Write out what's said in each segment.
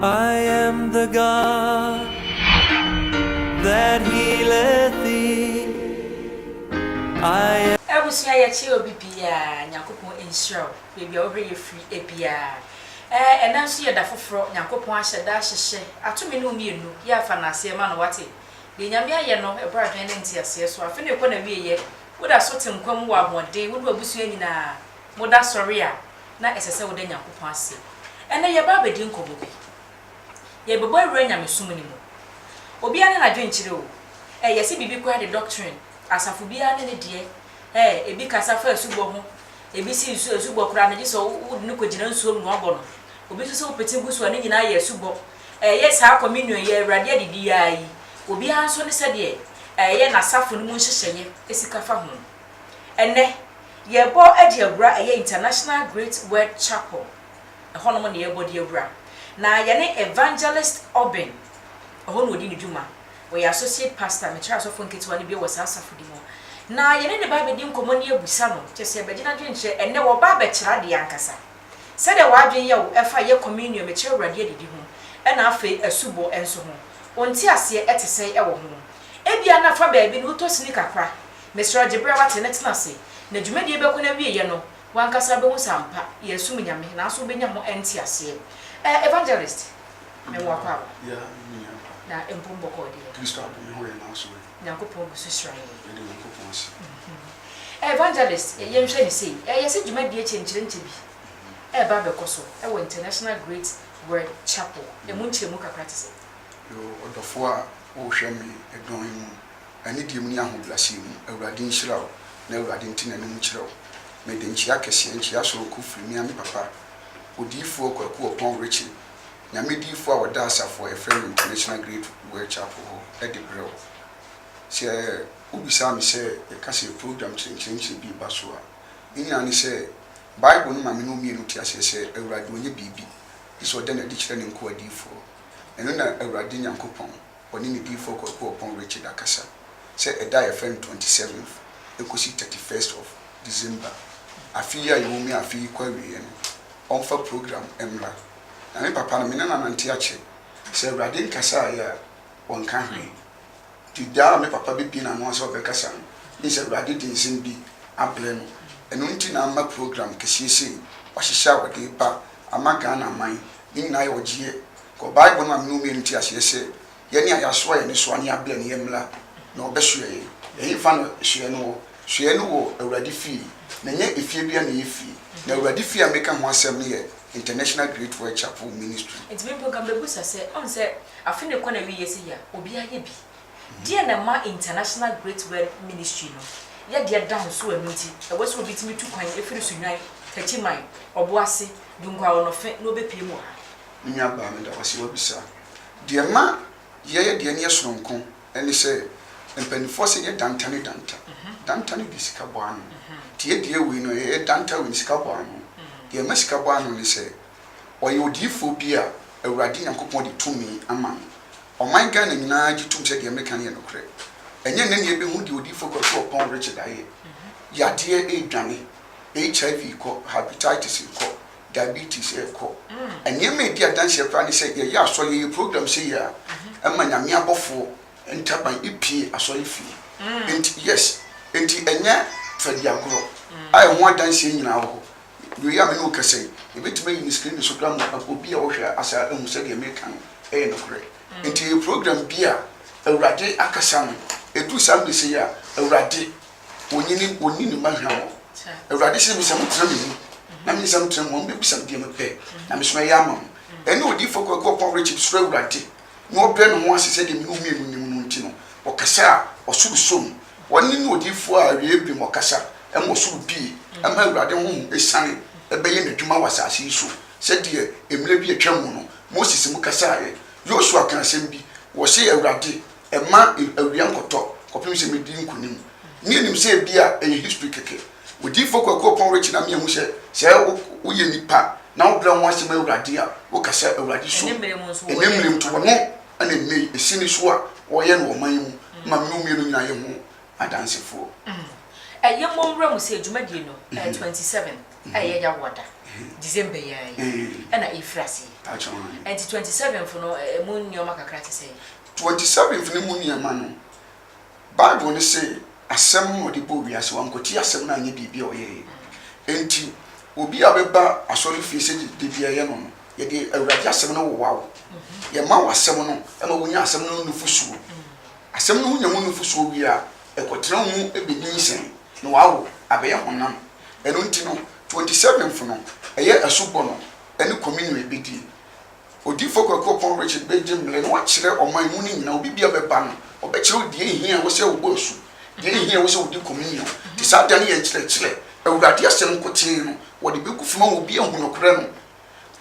I am the God that healeth thee. I Abusua yɛkyɛ obi biaa Nyankopɔn nhyira wo baabi a wohwɛ yɛ firi biaa ɛɛ ɛnɛ nso yɛ da foforɔ Nyankopɔn ahyɛ da ahyehyɛ ato me ne wo mmienu yɛ afa no aseɛ ma no wate deɛ Nyame ayɛ no ɛboro adwene ne nteaseɛ so afe no rekɔ na wieɛ woda so te nkwa mu wɔ ahoɔden wo ne wabusua nyinaa moda sɔre a na ɛsɛ sɛ woda Nyankopɔn ase. Ɛnnɛ yɛreba abɛdi nkɔmmɔ bi. Yɛrebɛbɔ awura nyamesom no mu. Obiara ne n'adwenkyerɛ o. Ɛɛ, yɛse biribi koraa de doctrine, asafo biara ne ne deɛ. Ɛɛ, ebi kasa fa asubɔ ho, ebi se nsu, asubɔ koraa no, gye sɛ wode no kɔgyina nsuom na woabɔ no. Obi nso se wopete gu so a, ne nyinaa yɛ asubɔ. Ɛɛ, yɛ saa communion, yɛ Awurade adidi yi ara yi, obiara nso ne sɛdeɛ ɛɛ, yɛ n'asafo no mu nhyehyɛeɛ sika fa ho. Ɛnnɛ, yɛrebɔ de awura ɛyɛ International Great Word Chapel, ɛhɔnom na yɛrebɔ de awura. Na yɛne Evangelist Obin, ɛhɔ na ɔdi ne dwuma, ɔyɛ Associate Pastor, mekyerɛ asɔfoɔ nketewa no bi wɔ saa asafodi mu. Na yɛne ne ba abɛdi nkɔmmɔ ne abusa no, kyerɛ sɛ bɛgye n'adwene kyerɛ, ɛnnɛ wɔba abɛkyerɛ adeɛ ankasa. Sɛdeɛ w'adwene yɛ wo ɛfa yɛ communion, mekyerɛ Awurade adidi ho, ɛna afei asubɔ nso ho, wo nteaseɛ ɛte sɛn ɛwɔ ho? Ebia na fa baabi no wotɔ sini kakra, Mesrɛ wo gye berɛ a woate no tena ase, na dwumadie bɛkɔ n'awieɛ no, w'ankasa wobɛhu sɛ ampa yɛresom Nyame, nanso wobɛnya ho nteaseɛ. Eh, Evangelist, me nwa kɔ aba. Yeah, me nua kɔ aba. Na mpo me bɔkɔɔ deɛ. Kristo abɔ me ho yɛ n'aso yi. Nyankopɔn gu so hyira yɛn. Yɛda Nyankopɔn ase. Eh, Evangelist, yɛn hwɛ no sei, eh, yɛse dwumadie kyenkyerenkye bi ɛreba abɛkɔ so wɔ International Great Word Chapel, ɛmu nkyerɛmu kakra te sɛ. Yoo, ɔdɔfoɔ a wohwɛ me dɔn mu. anidie mu ne ahobrɛaseɛ mu, Awurade nhyira wo, na Awurade nte n'anim nkyerɛ wo. Mede nkyea kɛseɛ, nkyea sononko firi me ara me papa, Odiyifoɔ Kwaku Ɔpɔn Ritchie, Nyame diyifoɔ a ɔda asafo a yɛfrɛ no International Great World Chapel hɔ, de brɛ wo. Sɛ wobisaa me sɛ yɛka sɛ program kyerɛnkyerɛnkyerɛ bi reba so a, ne nyinaa ne sɛ, Bible no ma me ne wo mmienu te aseɛ sɛ Awurade ɔnyɛ biribi, gye sɛ ɔda no adi kyerɛ ne nkoa adiyifoɔ. Ɛno na Awurade Nyankopɔn, Ɔne ne diyifoɔ kɔ Sukuɔpɔn Richard Akasa sɛ ɛda a yɛfrɛ no 27th ɛkɔsi 31st of December afe yi a yɛwɔ mu yi a afe yi kɔ awieɛ no ɔmfa program mmra. Na me papa no me ne no anante akyɛ. Sɛ Awurade nkasaeɛ a ɔnka hwee. Nti da a me papa bɛbue n'ano a sɛ ɔbɛkasa no mean sɛ Awurade de nsɛm bi abrɛ no. Ɛno nti na amma program kɛseɛ sei wahyehyɛ a ɔde reba ama Ghana man ne nyinaa ayɛ ɔgyeɛ Kɔ Bible no ma me ne wo mmienu nte aseɛ sɛ yɛne a yɛasoa yɛn nnesoa ne abrɛ ne yɛn mmra na wɔbɛsoɛ yɛn. Ɛhefa na soɛ no wɔ? Soɛ no wɔ Awurade fie. Na ɛnyɛ efie biara na ɛyɛ fie. Na Awurade fie a mereka ho asɛm no yɛ International Great World Chapel Ministry. Nti me mpo nka mɛbusa sɛ, ɔn sɛ afe no rekɔ n'awieɛ sei a, obiara ayɛ bi? Deɛn na ɛma International Great World Ministry no yɛ deɛ ɛda ho so a ɛno nti ɛwɔ sɛ obi tumi tu kwan firi Sunnwan, Takyiman, Ɔboase, Dunkwaaɔnɔfe na ɔbɛpue mu wɔ ha? Me nuabaa, meda wo ase sɛ woabisa. Deɛ ɛma yɛyɛ deɛ ɛneɛ sononko ne sɛ, mpaninfoɔ se nyɛ danta ne danta. Danta no de sika bɔ ano. Nti yɛ deɛ wei no, ɛyɛ danta wei no, sika bɔ ano. Deɛ ɛma sika bɔ ano ne sɛ, ɔyɛ odiyifoɔ bi a Awurade Nyankopɔn de tumi ama no. Ɔman Ghana nyinaa gye tom sɛ deɛ meka no yɛ nokorɛ. Ɛnyɛ nnɛ na yɛbɛhunu deɛ odiyifoɔ Kwaku Oppong Richard ayɛ. Yadeɛ redwane, HIV kɔ, Hepatitis kɔ. diabetes rekɔ. Nneɛma a edi adanseɛ koraa ne sɛ yɛyɛ asɔre, yɛyɛ program sei a, ɛma Nyame abɔfoɔ ntaban pue asɔre fie. Enti, yes, enti ɛnyɛ fadiagorɔ a ɛho adanseɛ nyinaa wɔ hɔ. Wei a me ne wo kasa yi, yɛbɛtumi ayi no screen so koraa ma obi a ɔhwɛ ase a ahu sɛ deɛ mereka no yɛ nokorɛ. Enti ɛyɛ program bi a Awurade akasa no, ɛduru saa mmerɛ sei a, Awurade Onyini onni ne mma hwɛ wɔn. Awurade se me sɛ motena me mu, na me nsa motena mu a, mobɛbisa me deɛ mepɛ, na me so mɛyɛ ama mo. Ɛnna odiyifoɔ Kwaku Ɔpɔnwerekyim suro Awurade, na ɔbrɛ ne ho ase sɛdeɛ me ne wo mmienu nim no nti no, ɔkasa a, ɔsoro sɔ mu. Ɔne ne odiyifoɔ a awieeɛ bem ɔkasa, ɛma ɔsoro bue, ɛma Awurade honhom siane bɛyɛ n'adwuma wɔ asase yi so, sɛdeɛ mmerɛ bi a atwam mu no, Moses mu kasaeɛ. Yosua kaa asɛm bi, ɔse, Awurade, Ɛma awia nkɔtɔ kɔpem sɛ medi nkonim. Nni anim sɛ ebia ɛyɛ history kɛkɛ. Odiyifo Kwaku Ɔpɔn Richie na miahu sɛ sɛ woyɛ nipa na wobrɛ wo ho ase ma Awurade a, woka sɛ Awurade so ɛnɛ mmerɛ mu nti wɔno na ɛnɛ yi ɛsi ne so a wɔyɛ no wɔ ɔman yi mu ma me ne wo mmienu nyinaa yɛ ho adansefoɔ. Ɛyɛ mommrɛ mu sɛ dwumadie no ɛyɛ twenty seven a ɛyɛ da wɔ da December yi ara yi ɛna ɛrefiri aseɛ. Ɛnti twenty seventh no ɛmu nneɛma kakra te sɛn? Twenty Seventh no mu nneɛma no, Bible no se asɛm na ɔde bɔɔ wiase, wankɔtie asɛm no anyɛ biribi a ɔyɛeɛ. Enti obi a ɔbɛba asɔrefie sɛ da biara yɛ no no, yɛde Awurade asɛm no wowa wo. Yɛma wo asɛm no ma wonya asɛm no ho nufosuo. Asɛm no ho nya ho nufosuo wie a, ɛkɔtena wo mu bɛnyinsɛn na wawo abɛyɛ honam. Ɛno nti no, Twenty Seventh no, ɛyɛ asubɔ no ne communion a yɛbɛdie. Odiyifo Kwaku Ɔpɔn Richard begye mmere na wakyerɛ ɔman mu no nyinaa, obi biara bɛba no, ɔbɛkyerɛw deɛ ehia a ɛwɔ sɛ wobɔ asu, deɛ ehia a ɛwɔ sɛ wodi komunyon, te saa da no yɛ nkyerɛkyerɛ, Awurade Asɛm nkotee no, wɔde begu fam ama obi ahu nokorɛ no.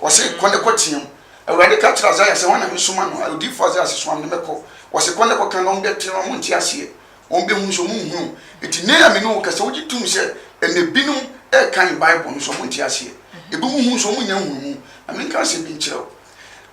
Wɔse, Kɔ ne kɔteam. Awurade ka kyerɛɛ Isaiah sɛ, Hwan na mesoma no? Odiyifo Isaiah se, Soa me na mɛkɔ. Wɔse, Kɔ na kɔka na wɔn bɛte na wɔn nte aseɛ. wɔbɛhu nso monhunu. Enti nnɛ yi a me ne wo kasa, wogye tom sɛ ɛnnɛ binom rekan Bible no so wɔnte aseɛ. Ebinom hu nso wɔnnya nhunumu. Na menka asɛm bi nkyerɛ wo.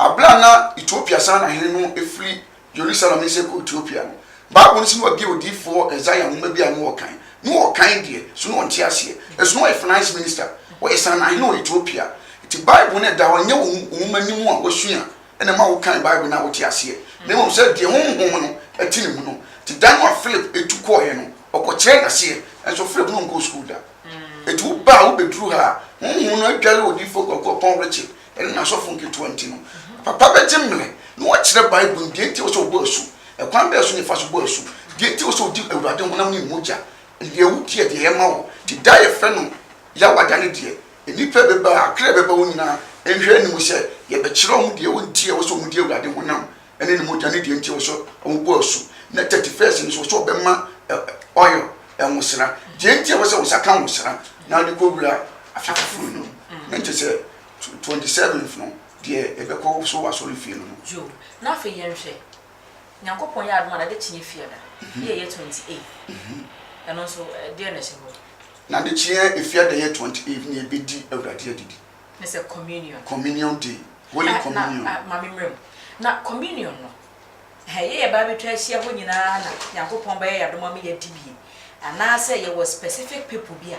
Aberɛ a na Ethiopia saa na hene no firi Jerusalem nsɛ kɔ Ethiopia no, Bible no se na wabie odiyifoɔ Isaiah nwoma bi a na ɔrekan. Na ɔrekan deɛ, so na ɔnte aseɛ. Ɛso na ɔyɛ finance minister. Ɔyɛ saa na hene wɔ Ethiopia. Enti Bible no ɛda hɔ, ɛnyɛ wo nwoma no mu a wasua. na ɛma wokan Bible na wote aseɛ, na mmom sɛ deɛ Honhom no te ne mu no. Nti da no a Philip tu kɔeɛ no, ɔkɔkyerɛɛ no aseɛ, nanso Philip no nkɔɔ sukuu da. Enti woba a wobɛduru ha a, Honhom no adware Odiyifoɔ Kwaku Aponn Richard ne n'asɔfo nketewa nti no, papa bɛgye mmerɛ na wakyerɛ Bible no mu, deɛ nti a ɛwɔ sɛ wɔbɔ asu, ɛkwan bɛn so na yɛfa so bɔ asu, deɛ nti a ɛwɔ sɛ wodi Awurade honam ne mogya, deɛ wodi a deɛ ɛyɛ ma wo. Nti da a yɛfrɛ no Yawada no deɛ, Nnipa bi ba a, kra a ɛbɛba wɔn nyinaa nhwɛ anim sɛ yɛbɛkyerɛ wɔn deɛ nti a ɛwɔ sɛ wɔdi Awurade honam ne ne mogya ne deɛ nti a ɛwɔ sɛ wɔbɔ asu. Na thirty first no nso, ɛwɔ sɛ wɔbɛma oil, nwosra, deɛ nti a ɛwɔ sɛ wo nsa ka nwosra na wode kɔwura afe foforo no mu, na nkyɛ sɛ twenty seventh no deɛ ɛbɛkɔ so wɔ asɔrefie no mu. Joe, Na afei yɛnhwɛ Nyankopɔn yɛ adom a n'ade kyeɛ Fiada yɛ yɛ 28 ɛno nso deɛ na ɛhyɛ hɔ? N'ade kyeɛ Fiada yɛ 28 na yɛbɛdi Awurade Adidi. Ne sɛ Communion. Communion day, Holy Communion. Na ma me mmerɛ mu, na Communion no hɛ yɛ yɛba abɛtwa ahyia hɔ nyinaa na Nyankopɔn bɛyɛ yɛ adom ama yɛadi bi? Anaasɛ yɛwɔ specific people bi a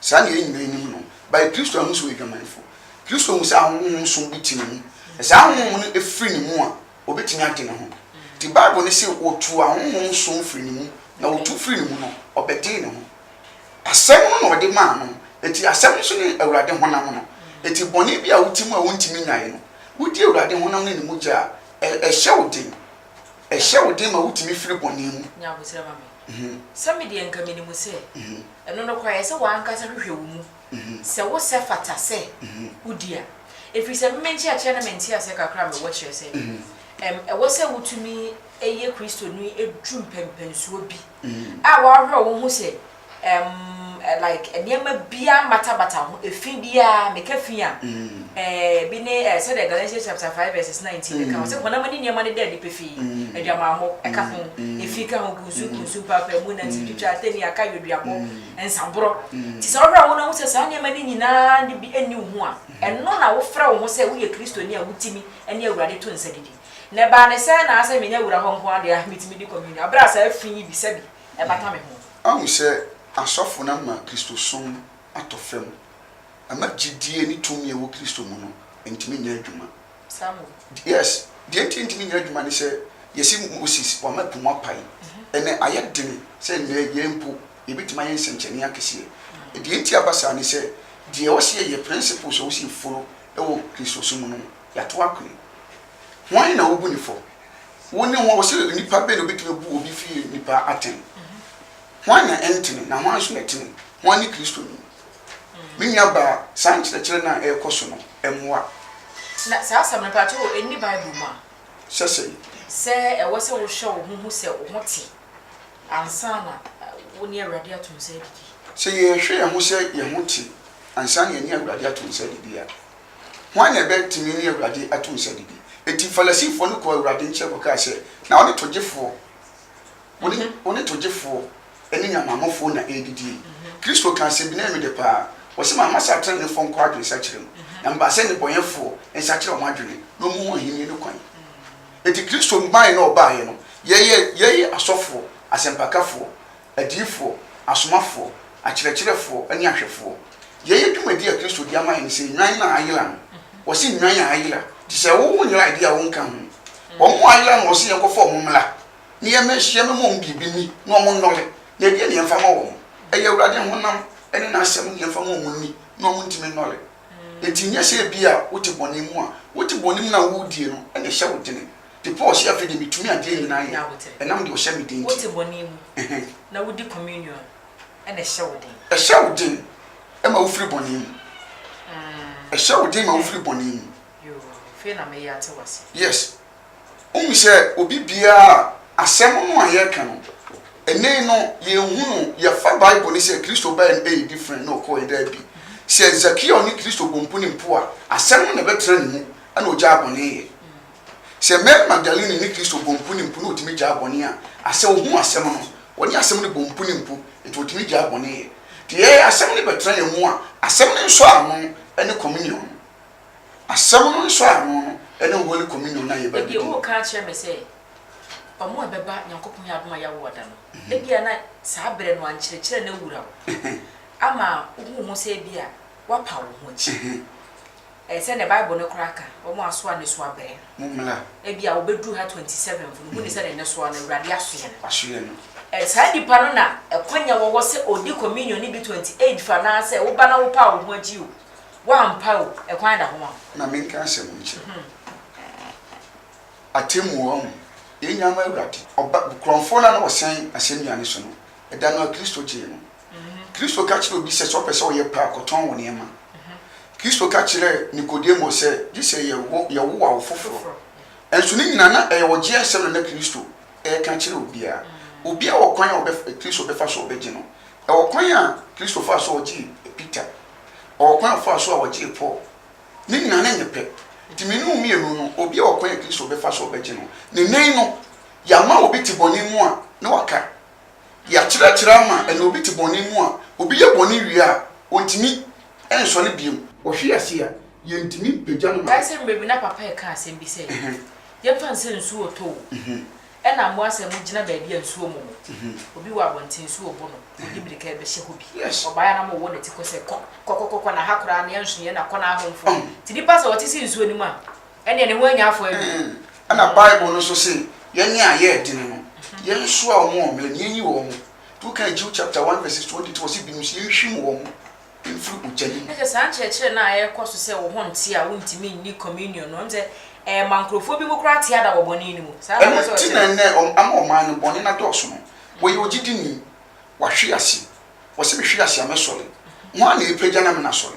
Saa na yɛn nyinaa nim no. By Kristo ahu sɛ ɔyɛ dwamanfo. Kristo hu sɛ ahonhom nson bi te ne mu. Sɛ saa ahonhom no firi ne mu a, ɔbɛtumi ade ne ho. Nti Bible no se ɔtuu ahonhom nson firi ne mu, na wɔtu firi ne mu no, ɔbɛdee ne ho. Asɛm no na ɔde maa no, nti Asɛm no nso ne Awurade honam no. Nti bɔne bi a wote mu a wontumi nyae no, wodi Awurade honam ne ne mogya a, ɛhyɛ wo den. Ɛhyɛ wo den ma wutumi firi bɔne mu. Nya abotire ma me. Sɛ me deɛ nka menim sɛ ɛno nokorɛ ɛsɛ w'ankasa hwehwɛ wo mu sɛ wo sɛ fata sɛ wodi a. Ɛfiri sɛ me me nkyerɛkyerɛ ne me nteaseɛ kakra a mewɔ kyerɛ sɛ ɛm ɛwɔ sɛ wotumi yɛ Kristoni duru mpɛnpɛnsoɔ bi a w'ahwerɛ wo ho sɛ Ɛm ɛ like nneɛma biara mmata bata ho, efi biara, meka fi a, ɛɛ bi ne ɛɛ sɛdeɛ Galatians chapter five verses nineteen no ka ho, sɛ honam ani nneɛma no da adi pefee, adwamammɔ, ɛka ho, efi ka ho, kunsu, kunsu, mpaapaemu, nantiwtwitwa, atɛnni, akae, weduabɔ, nsaborɔ. Nti sɛ wohwɛ a, wo na wohu sɛ saa nneɛma no nyinaa no bi nni wo ho a, ɛno na wofrɛ wo ho sɛ woyɛ Kristoni a wotumi ne Awurade to nsa didi. Na ɛbaa no sɛɛ na a sɛ menya wura hɔ nko ara deɛ a, metumi di communion, berɛ a saa fi yi bi, sɛbi, ɛbata me ho. Ahu sɛ asɔfo no ama Kristosom atɔ fam, ama gyidie ne tumi a ɛwɔ Kristo mu no ntumi nyɛ adwuma. Saa mo. Yes, deɛ nti ɛntumi nyɛ adwuma ne sɛ, yɛse Moses, wama po mu apae. Ɛnnɛ ayɛ den sɛ nnɛ yɛn mpo yɛbɛtumi ayɛ nsɛnkyerɛnee akɛseɛ. Deɛ nti aba saa ne sɛ, deɛ ɛwɔ sɛ yɛyɛ, principles a ɛwɔ sɛ yɛ follow wɔ Kristosom mu no, yɛato akɔe. Hwan na wobu no fɔ? Wo ne hwan, ɔse onipa bɛn na obetumi abu obi fi nnipa atɛn? Hwan na ɛntene, na hwan nso na ɛtene? Hwan ne Kristo no? Me nua baa, saa nkyerɛkyerɛ no a ɛrekɔ so no, ɛmmoa. Na saa asɛm no, mpakyɛ o, ɛnni Bible mu a? Sɛ sɛn? Sɛ ɛwɔ sɛ wohwɛ wo ho hu sɛ wo ho te ansa na wo ne Awurade ato nsa adidi. Sɛ yɛhwɛ yɛn ho sɛ yɛn ho te ansa na yɛne Awurade ato nsa adidi a, Hwan na ɛbɛtumi ne Awurade ato nsa adidi? Enti Farisifoɔ no kɔɔ Awurade nkyɛn kɔkaa sɛ, Na wo ne togyefoɔ, wo ne, wo ne togyefoɔ ne nyamanmufoɔ na ɛredidi yi. Kristo kaa sɛ, Binee me dɛ paa, ɔse, Mamma saa teneneefoɔ nkɔ adwensakyera mu, na mebaa sɛ nnebɔnyɛfoɔ nsakyera wɔn adwene, na ɔmmu wɔn ahennie no kwan. Enti Kristo mmaeɛ na ɔbaeɛ no, Yɛyɛ, yɛyɛ asɔfoɔ, asɛmpakafoɔ, adiyifoɔ, asomafoɔ, akyerɛkyerɛfoɔ, ne ahwɛfoɔ. Yei yɛ dwumadie a Kristo de ama yɛn sɛ nnwan no a ayera no. Wɔse nnwan a ayera te sɛ wo wo nyera deɛ a wonka ho. Wɔn a ayera no wɔse yɛnkɔfa wɔn mmra na yɛmmɛhyia mmɛma wɔn biribi nni na wɔn nnɔre. Na ɛdeɛn na yɛmfa ma wɔn? Ɛyɛ Awurade honam ne N'asɛm na yɛmfa ma wɔn nni na wɔn ntumi nnɔre. Enti nyɛ sɛ ebia wote bɔne mu a, wote bɔne mu no a woredie no na ɛhyɛ wo dene Nti Paul se, Afei deɛ metumi adeɛ nyinaa yɛ, ɛnam deɛ ɔhyɛ me den nti. Wote bɔne mu, na wodi communion, ɛna ɛhyɛ wo den. Ɛhyɛ wo den ma wofiri bɔne mu. Ɛhyɛ wo den ma wofiri bɔne mu. Yoo, afei na meye ate w'ase. Yes. Wohu sɛ obi biara a asɛm no a yɛreka no, ɛnnɛ yi no, yɛnhu no, yɛfa Bible no sɛ Kristo baeɛ no ɛyɛ different na ɔkɔeɛ, daabi. Sɛ Zakeo ne Kristo bɔ mpo ne mpo a, asɛm no na ɛbɛtena ne mu, ɛna ɔgyaa bɔne yɛ. Sɛ Mary Magdalene ne Kristo bɔ mpo ne mpo na otumi gyaa bɔne a, asɛ ohuu Asɛm no? Wɔne Asɛm no bɔ mpo ne mpo, enti wɔtumi gyaa bɔne yɛ. Te yɛɛ Asɛm no bɛtena yɛn mu a, Asɛm no nsɔano ne Communion no. Asɛm no nsɔano no ne Holy Communion no a yɛba bedi no. Ebia woreka akyerɛ me sɛ, Wɔn a ɛbɛba Nyankopɔn Yɛ Adom a Yɛawoɔ Da no, ebia na saa berɛ no a nkyerɛkyerɛ no awura wo ama wohu wo ho sɛ ebia woapa wo ho akyi. Ɛyɛ sɛnea Bible no koraa ka, wɔn a asoa nnesoa bɛn no. Mommla. Ebia wobeduru ha 27 fo no, munni sɛ ne nnesoa no, Awurade aso yɛ no. Aso yɛ no. Saa nnipa no na ɛkwanya wɔ hɔ sɛ odi Communion no bi 28 fo anaasɛ woba na wopaa wo ho akyi o, woampa o, ɛkwan da ho ma wo. Ma menka asɛm bi nkyerɛ wo. Atemmuo, ɔho, yɛn nyinaa ma Awurade. Ɔba, Korɔnfoɔ no a na wɔsɛn asɛnnua no so no, ɛda no a Kristo gyee no. Kristo ka kyerɛɛ obi sɛ, sɛ ɔpɛ sɛ ɔyɛ pɛ a, kɔtɔn wo nneɛma. Kristo ka kyerɛɛ Nikodemo sɛ, gye sɛ yɛwowa wo foforo. Nanso ne nyinaa, na ɛyɛ ɔgye asɛm na na Kristo reka kyerɛ obiara. Obiara wɔ kwan a Kristo bɛfa so ɔbɛgye no. Ɛwɔ kwan a Kristo faa so a ɔgyee Peter. Ɔwɔ kwan a ɔfaa so a ɔgyee Paul. Ne nyinaa, na ɛnyɛ pɛ. Nti me ne wo mmienu no, obiara wɔ kwan a Kristo bɛfa so ɔbɛgye no. Nnɛyi no, yɛama obi te bɔne mu a, na waka. Yɛakyerɛkyerɛ ama ɛnɛ obi te bɔne mu a, obi yɛ bɔne wie a, ontumi nsɔre bio. Ɔhwe ase a, yentumi mpagya no ma. Dae sɛ mmerɛ bi na papa reka asɛm bi sɛ, Yɛmfa no sɛ nsuo retɔ o, ɛna mmoa sɛ mogyina baabi a nsuo mmɔ mo, obi wɔ abɔnten nsuo rebo no, mode mmirika rebɛhyɛ hɔ bi. Ɔbaeɛ a na mowɔ ne ti kɔ sɛ, Kɔ, kɔ, kɔ, kɔ na ha koraa, nea nsonoeɛ na kɔ na ahomfo. Nti nnipa sɛ wɔte sɛ nsuo no mu a, Ɛnneɛ ne ho anya afɔ awie. Ɛna Bible no nso se, Yɛn a yɛɛ dene no, yɛnsoaa wɔn wɔ mmerɛ mu, yɛnyi wɔn. Nti wokan Jude chapter one verses twenty three a ɔse binom se yɛnhwim wɔn mfiri ogya no mu. Ɛne sɛ saa nkyerɛkyerɛ no a ɛrekɔ so sɛ wo ho nte a wontumi nni communion no, ɛne sɛ ɛrema nkurɔfoɔ binom koraa te ada wɔ bɔne no mu. Saa na Ɛno ɔpɛ sɛ nti na ɔkyerɛ. ɛnnɛ wɔn ama ɔman no bɔne no adɔɔso no. Wɔyɛ ogyidini, wahwe ase, ɔse mehwe ase a mɛsɔre. Hwan na ɛrepagya no ama no asɔre?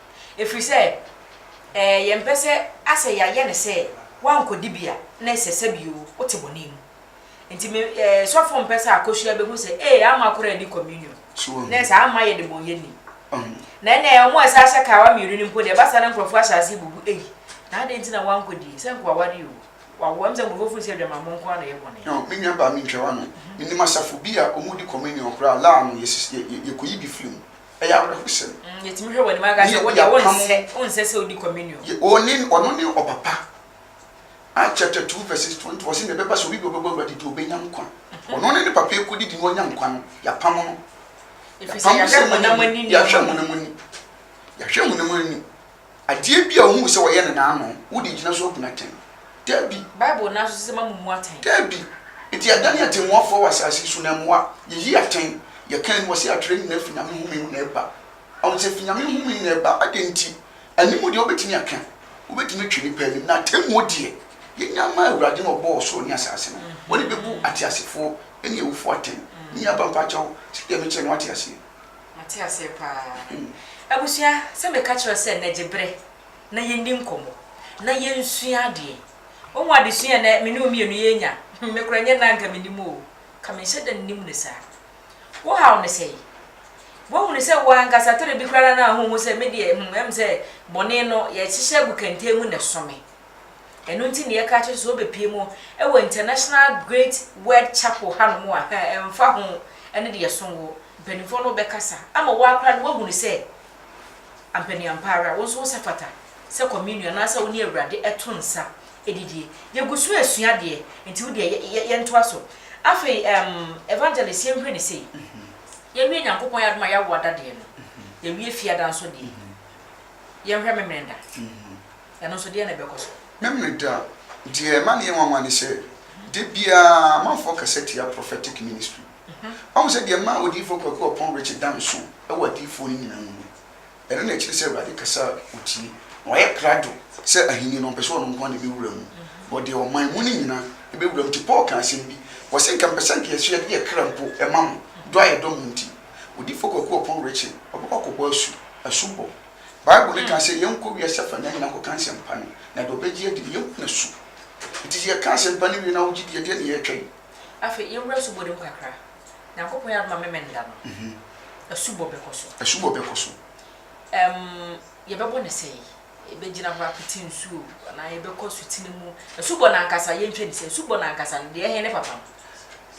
Ɛfiri sɛ, ɛɛ, yɛmpɛ sɛ asɛ yɛayɛ no sɛ woankɔdi bi a, na ɛsɛ sɛ bio wote bɔne mu. Nti me, ɛɛ, sɔfo mpɛ sɛ akɔsua bɛhu sɛ, ee, ama akɔre adi communion. So wahu? Na ɛsɛ, amma yɛ debɔnyɛni. Ɔho. Na ɛnnɛ, wɔn a ɛsɛ ahyɛ kawa mmienu no mpo deɛ, ɛba saa na nkurɔfoɔ ahyɛ aseɛ bubu, ei, na adɛn nti na woankɔdie? Sɛ anka wawareɛ o, wawo. Ɛm sɛ nkurɔfoɔ firi sɛ adwamammɔ nko ara na ɛyɛ bɔne. Ɔho, me nuabaa, mentwa w'ano. Menim asafo bi a wɔdi communion koraa, laa no, yɛsis, yɛ, yɛ, yɛkɔyi bi firi mu. ɛyɛ awerɛhosɛm. Mm, yɛtumi hwɛ wɔ anim aka sɛ wodeɛ wonsɛ wonsɛ sɛ wodi communion. Ɔno ne ɔpapa. Acts chapter two verses twenty wɔsi na ɛbɛba sɛ obi bi ɔbɛbɔ awurade di obenya nkwa. Mhm. Ɔno ne ne papa ekodi di na ɔnya nkwa no yapam no. Efisɛ yɛahwɛ honam ani nneɛma. Yɛahwɛ honam ani. Yɛahwɛ honam ani. Adeɛ bi a ɔhuu sɛ wɔyɛ no na ano, wo deɛ gyina so abu no atɛn? Dabi! Bible no ara nso sɛ, Moammu mu atɛn. Dabi! Enti yɛadane atɛnmuafoɔ wɔ asase yi so na mmoa, yɛyi atɛn, yɛka aniwa sɛ yɛatwerɛ ne nyinaa firi Nyame nhome mu na ɛba. Ɔho sɛ firi Nyame nhome mu na ɛba, adɛn nti? Animu deɛ wobɛtumi aka, wobɛtumi atwe nnipa anim, na atɛnmuo deɛ, yɛnya mma Awurade no a ɔbɔɔ ɔsoro ne asase no, ɔne bɛbu ateasefoɔ ne awufoɔ atɛn. Menuaba mpakyɛw, sɛdeɛ mekyerɛ no woate aseɛ? Mate aseɛ paa abusua sɛ meka kyerɛ sɛ nɛ gye berɛ na yɛnni nkɔmmɔ na yɛnsua adeɛ wohu adesua a nɛ me ne wo mmienu yɛnya hmm me kora nyɛ nɛ anka menim oo ka menhyɛ da nnim no saa wo haw ne sɛi woahunu sɛ wo ankasa tere bi kora na na honhu sɛ medeɛ hmm ɛm sɛ bɔne no yɛhyehyɛ agu kɛntɛn mu nɛ so me Ɛno nti na yɛka kyerɛ sɛ wobɛpue mu wɔ International Great Word Chapel hanom a, ɛmfa ho ɛne deɛ ɛso wo, mpanimfoɔ no bɛkasa ama wo ara koraa na woahunu sɛ ampa ni ampa ara, wo nso wo sɛ fata sɛ Communion anaasɛ wo ne Awurade ɛto nsa ɛdidie. Yɛgu so ɛresua adeɛ, nti wo deɛ yɛ yɛntoa so. Afei ɛɛm Evangelist yɛnhwɛ no sei, yɛwie Nyankopɔn yɛ adom a yɛawo adadeɛ no, yɛwie Fiada nso deɛ, yɛnhwɛ Memeneda. Ɛno nso, deɛn na ɛbɛkɔ so? Me Meda, Deɛ ɛma no yɛ nwanwa ne sɛ, da biara amanfoɔ kasa tia prophetic ministry. Wahu sɛ deɛ ɛmaa Odiyifoɔ Kwaku Ɔpɔn Richard da nso wɔ adiyifoɔ no nyinaa mu no, ɛno na akyiri sɛ Awurade kasa a ɔtie. Na wayɛ krado sɛ ahennie no ɔmpɛ sɛ ɔno nko ara na ɛbɛwura mu, but deɛ ɔman mu no nyinaa bɛwura mu. Nti Paul kaa asɛm bi, ɔse, Nka mepɛ sɛ nka yɛso yɛde yɛn kra mpo ma mo, dɔ a yɛdɔ mo nti. Odiyifoɔ Kwaku Ɔpɔn Richard, ɔbɛkɔ akɔbɔ asu, asubɔ. Bible no ka sɛ yɛnkɔ wiase afa nyinaa nkɔka nsɛmpa no, na deɛ ɔbɛgye adi no, yɛnhu n'asu. Enti sɛ yɛka asɛmpa no wie na wogye di a, ɛdeɛn na yɛretwɛn? Afei, yɛwura asubɔ no mu kakra. Nyankopɔn yɛ adom a Memenda no, asubɔ bɛkɔ so. Asubɔ bɛkɔ so. Ɛm, yɛbɛbɔ no sɛn? Yɛbɛgyina hɔ apete nsu o, anaa yɛbɛkɔ asutene mu? Asubɔ no ankasa, yɛntwa ne sɛ, asubɔ no ankasa no, deɛ ɛhe ne fapam?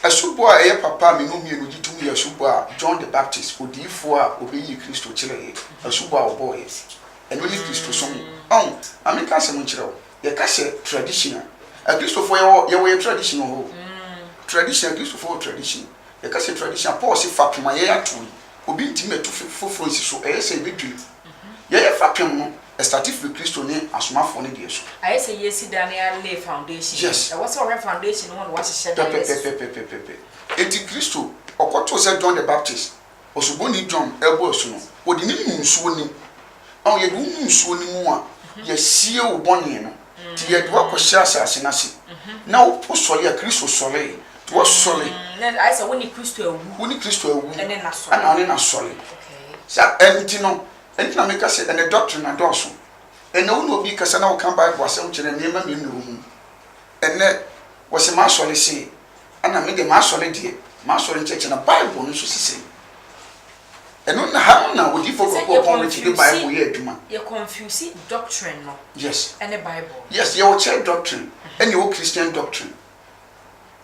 Asubɔ a ɛyɛ papa a me ne wo mmienu gye tom yɛ asubɔ a John the Baptist, odiyifoɔ a ɔbɛyii Kristo kyerɛeɛ, asubɔ a ɔbɔeɛ. Ɛno ne Kristosom. Ɔho, ma menka asɛm nkyerɛ wo. Yɛka sɛ tradition a, Akristofoɔ yɛwɔ, yɛwɔ yɛn tradition wɔ hɔ o. Tradition, Akristofoɔ wɔ tradition. Yɛka sɛ tradition a, Paul se, Fapem a yɛato yi, obi ntumi ntu foforɔ nsi so, ɛyɛ sɛ ɛbɛdwiri. Yɛyɛ fapem no, ɛstate firi Kristo ne Asomafoɔ no deɛ so. Ayɛ sɛ yɛresi dan no ara lay foundation. Yes. Ɛwɔ sɛ wɔhwɛ foundation no ho na wɔahyehyɛ dan no asi so. Pɛpɛpɛpɛpɛpɛpɛ. Enti Kristo, ɔkɔtoo sɛ John the Baptist, Osuboni John, rebɔ asu no, wɔde no nuu nsuo no mu. Ɔn, yɛde wo nu nsuo no mu a, yɛasie wo bɔne no. Nti yɛ de woakɔhyɛ asase no ase, na wo sɔre a Kristo sɔree, nti woasɔre. Na ayɛ sɛ wo ne Kristo awu. Wo ne Kristo awu. Ɛne no asɔre. Ɛna ɔne no asɔre. Okay. Sa ɛnti no, ɛnti na meka sɛ ɛnɛ doctrine adɔɔso. Ɛnɛ wo ne obi kasa na woka Bible asɛm kyerɛ no, nneɛma mmienu na ɛwɔ mu. Ɛnɛ wɔse m'asɔre se, ɛna me deɛ m'asɔre deɛ, m'asɔre nkyerɛkyerɛ na Bible no nso se sei. Ɛno na ha no na odiyifo Sɛ kɔkɔɔ pɔn no ti de yɛconfuse Bible yɛ adwuma. yɛconfuse doctrine no Yes. ɛne Bible no. Yes, yɛwɔ church doctrine ɛna yɛwɔ Christian doctrine.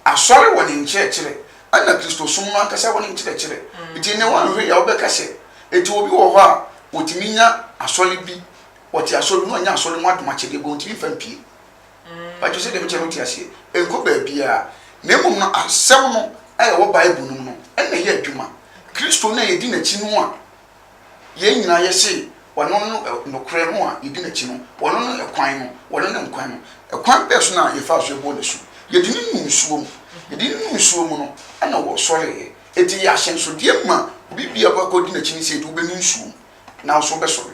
Asɔre wɔ ne nkyerɛkyerɛ ɛna Kristosom no ankasa wɔ ne nkyerɛkyerɛ. Nti nnɛ woanhwɛ yie a wobɛka sɛ enti obi wɔ hɔ a otumi nya asɔre bi, ɔte asɔre mu na ɔnya asɔre mu adomakyɛdeɛ but ontumi mfa mpue. Mpakyɛw, sɛnea ɛbɛkyɛ mote aseɛ, ɛnkɔ baabiara, na mmom no asɛm no a ɛwɔ Bible no mu no na ɛyɛ adwuma. Kristo no a yɛdi n'akyi no a yɛn nyinaa yɛse ɔno ne nokorɛ no a yɛdi n'akyi no, ɔno ne ɛkwan no, ɔno ne nkwa no, ɛkwan bɛn so na yɛfaa so bɔɔ n'asu? Yɛde no nuu nsuo mu. Yɛde no nuu nsuo mu no na ɔsɔreeɛ. Enti ɛyɛ ahyɛnsodeɛ ma obi biara a ɔbɛkɔ adi n'akyi no sɛ, yɛde wo bɛnu nsuo mu na wo nso wobɛsɔre.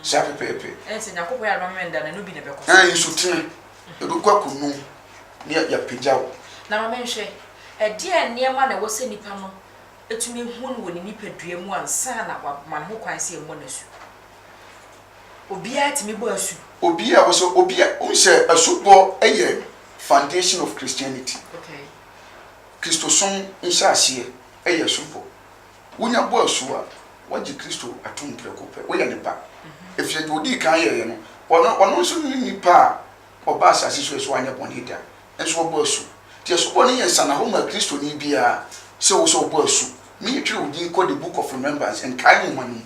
Saa pɛpɛɛpɛ. Ɛne sɛ Nyankopɔn yɛ adom ama me nda na ɛno bi na ɛbɛkɔ so. Ɛɛ nsutene, ɛbɛkɔ akɔnu ne yɛapagya wo. Na ma menhwɛ, ɛdeɛn nneɛma na ɛwɔ sɛ nipa no tumi hu no wɔ ne nipadua mu ansa na wama ne ho kwan sɛ ɛmmɔ no asu? Obiara tumi bɔ asu. Obiara wɔ sɛ, obiara, wohu sɛ asubɔ yɛ foundation of Christianity. Okay. Kristosom nhyɛaseɛ yɛ asubɔ. Wunya bɔ asu a, woagye Kristo atom prɛko pɛ. Woyɛ ne ba, efisɛ nea odii kan yɛe no, ɔno, ɔno nso ne nipa a ɔbaa asase so a ɛso anyɛ bɔne da, nso ɔbɔ asu. Enti asubɔ no yɛ nsanahɔ ma Kristoni biara sɛ ɔwɔ sɛ ɔbɔ asu. Mentwere wo din kɔ The Book of Remembrance, Nkae Nhoma, no mu.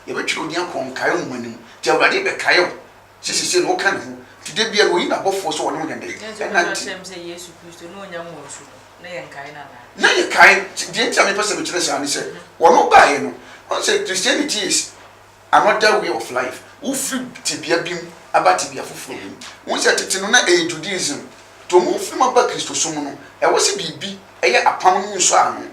Yɛbɛtwere wo din akɔ Nkae Nhoma no mu. Enti Awurade bɛkae wo. Sɛ sesei no ɔka ne ho, nti da biara no ɔyi n'abɔfoɔ sɛ wɔne wo nyɛ dɛn? Dɛn nti na wobɛka Ɛnante. kyerɛ me sɛ Yesu Kristo ne ɔnya mmɔɔ nsu no, na yɛnkae no anaa? Na yɛkae. Deɛ nti a mepɛ sɛ mekyerɛ saa ne sɛ, ɔno baeɛ no, ɔhu sɛ Christianity is another way of life. Wofiri tebea bi mu aba tebea foforɔ bi mu. Wohu sɛ tete no na ɛyɛ Judaism, nti wɔn a wɔfiri mu aba Kristosom no, ɛwɔ sɛ biribi yɛ apam no mu nsɔano.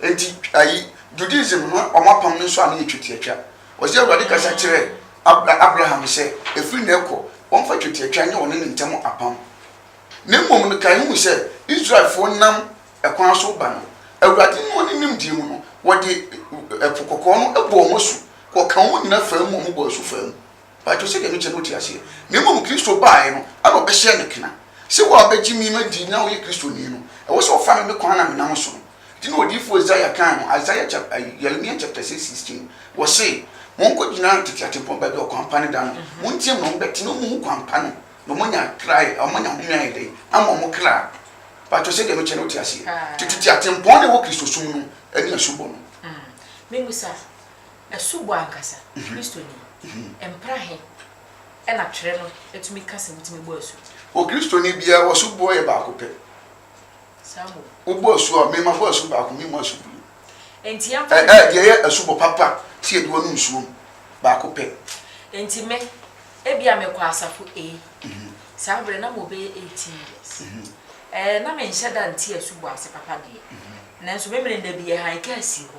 Nti ayi, Judaism no wɔn apam no nsɔano yɛ twetiatwa. Ɔsɛ Awurade kasa kyerɛɛ Abra Abraham sɛ, ɛfiri nnɛ rekɔ, wɔmfa twetiatwa nyɛ wɔne ne ntam apam. Na mmom no, kae hu sɛ, Israelfoɔ nam ɛkwan so reba no, Awurade noa ne nimdeɛ mu no, wɔde Ɛpo Kɔkɔɔ no bɔɔ wɔn asu, wɔkaa wɔn nyina faa mu, wɔbɔɔ asu faa mu. Mpakyɛw sɛdeɛ mekyɛ no wote aseɛ? Na mmom Kristo baaɛ no, ana ɔbɛhyɛɛ no kena sɛ, wo a wobɛgye me madi na woyɛ Kristoni no, ɛwɔ sɛ wofa me me kwan a menam so no? Nti na odiyifoɔ Isaiah kaa no, Isaiah chap eh, Yeremia chapter six sixteen, wɔse, Monkɔgyina tete atempɔn baabi a ɔkwan pa no da no, monteam na mobɛte na mohu kwan pa no, na moanya kra ayɛ, eh, moanya home ayɛ dɛn ama mo kra. Patwɔ sɛdeɛ mekyɛ no wote aseɛ? Nti tete atempɔn na ɛwɔ Kristosom no ne asubɔ no. Mm. Mebusa, asubɔ ankasa, mhm. Kristoni, mhm. mpra he ɛna twerɛ no atumi ka sɛ wotumi bɔ asu? O Kristoni biara, wɔso boɔ yɛ baako pɛ. Samuel. Wobɔ asu a, mema bɔ asu baako, memu asu bio. Enti yɛn kwan. Ɛ, ɛ, deɛ ɛyɛ asubɔ papa, sɛ yɛde wɔnom nsuo mu, baako pɛ. Enti me, ebia mekɔ asafo A. Saa berɛ na mobɛyɛ eighteen years. Ɛ, na menhyɛ da nte asubɔ ase papa deɛ, nanso me mene nna bi yɛhanke asie hɔ.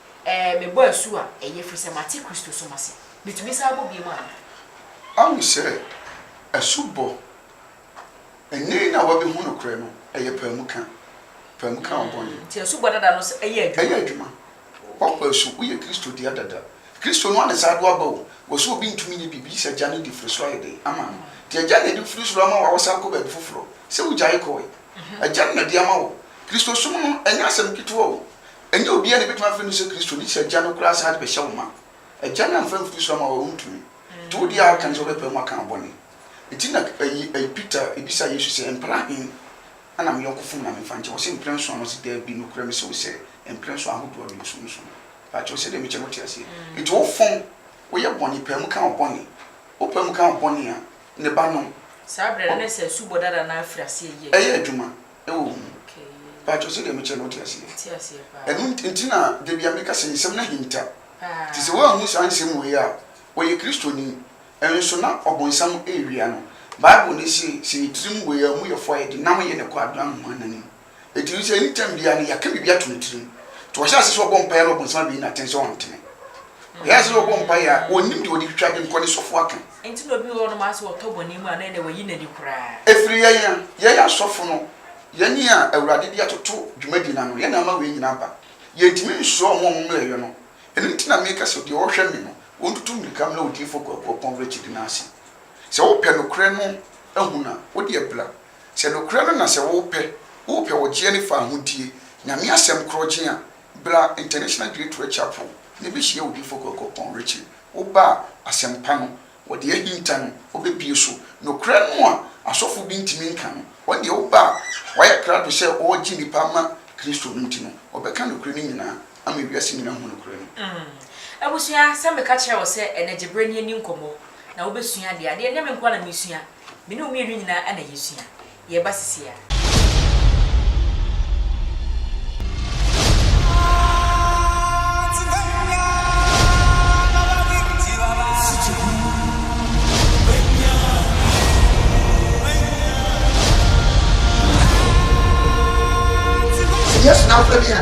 Ɛɛ, mebɔ asu a, ɛyɛ ɛfiri sɛ mate Kristo som ase. Metumi san bɔ bio anaa? Ahu sɛ asubɔ nyɛ na wɔabehu nokorɛ no, ɛyɛ paamu ka. Paamu ka wo bɔne. Nti asubɔ dada no nso ɛyɛ adwuma? Ɛyɛ adwuma. Woabɔ asu, woyɛ Kristo dea dada. Kristo no ara na saa de wo aba o. Wɔ sɛ obi ntumi nyɛ biribi gye sɛ Agya no de firi soro ayɛ dɛn? Ama no. Nti Agya no na ɛde firi soro ama wo a wosan kɔ baabi foforɔ sɛ wogyae kɔɔe. Agya no na ɛde ama wo. Kristosom no, ɛnyɛ asɛm ketewa o. Ɛnyɛ obiara na ebetumi afrɛ no sɛ Kristoni, te sɛ agya no koraa saa de bɛhyɛ wo ma. Agya no amfa amfiri soro ama wo a, wuntumi. Enti wo deɛ a aka ne sɛ wobɛpae mu aka wo bɔne. Enti na Peter bisa Yesu sɛ, Mpɛn ahe na me yɔnko fom na memfa nkyɛ? Ɔse, Mpɛn nson. Na ɔse, Dabi, nokorɛ mese wo sɛ, mpɛn nson ahodoɔ no, bosome nson. Pakyɛw, sɛdeɛ mekyɛ no wote aseɛ? Enti wofom, woyɛ bɔne, pae mu ka wo bɔne. Wopae mu ka wo bɔne a, ne ba no. Saa berɛ no, na ɛsɛ sɛ asubɔ dada no ara firi aseɛ yɛ adwuma. Ɛyɛ adwuma. wɔ ho. Mpakyɛw sɛdeɛ me kyerɛ no wote aseɛ? Ɛno nti na da bia me ka sɛ nsɛm no ahinta. Nti sɛ woanhu saa nsɛm wei a, ɔyɛ Kristoni nso na ɔbonsam rewia no. Bible no se, sɛ yɛ tirim wɔ yɛn amumuyɛfoɔ a yɛde nam yɛn ɛkɔ adoa nhoma no anim. Ɛti no sɛ anytime biara no yɛaka biribi ato ne tirim. Nti ɔhyɛ ase sɛ ɔbɔ mpaeɛ no ɔbonsam abɛyi no atɛn sɛ ɔntene. Ɔyɛ ase sɛ ɔbɔ mpaeɛ a ɔnnim deɛ ɔde twitwa ade no kɔ ne sɔfoɔ aka. Enti na obi wɔ hɔnom ara sɛ ɔtɔ bɔne mu a, na ɛnde wayi n'ani koraa. Ɛfiri yɛn a yɛyɛ asɔfo no, yɛn a Awurade de atoto dwumadi no ano, yɛn na ama wei nyinaa aba. Yɛntumi nsuro wɔn a wɔmmrɛɛ yɛn no. Ɛno nti na meka sɛ, deɛ ɔhwɛ me no, ɔntutu mmirika mmra odiyifoɔ kuakuapɔn awerɛkyedi no ase. Sɛ wopɛ nokorɛ no ahu no a, wo deɛ bra. Sɛ nokorɛ no na sɛ wopɛ, wopɛ ɔgyeɛ ne fawohodie, Nyame asɛm korɔgyen a, bra International Great Rechapel na bɛhyia odiyifoɔ kuakuapɔn awerɛkyedi. Woba a, asɛmpa no, wɔde ahinta no, wɔbɛbue so. Nokorɛ no a asɔfoɔ bi ntumi nka no, wɔn deɛ woba a, wɔayɛ krado sɛ wɔregye nnipa ama Kristo no nti no, wɔbɛka nokorɛ no nyinaa ama wiase nyinaa ahunu nokorɛ no. Mm, abusua, sɛ meka kyerɛɛ wo sɛ ɛnnɛ gye berɛ ne yɛnni nkɔmmɔ na wobɛsua adeɛ a, deɛ ɛnyɛ me nko ara na meresua, me ne wo mmienu nyinaa na yɛsua. yɛ ba sisi a. Sɛ Yesu n'afɔrebɔ a.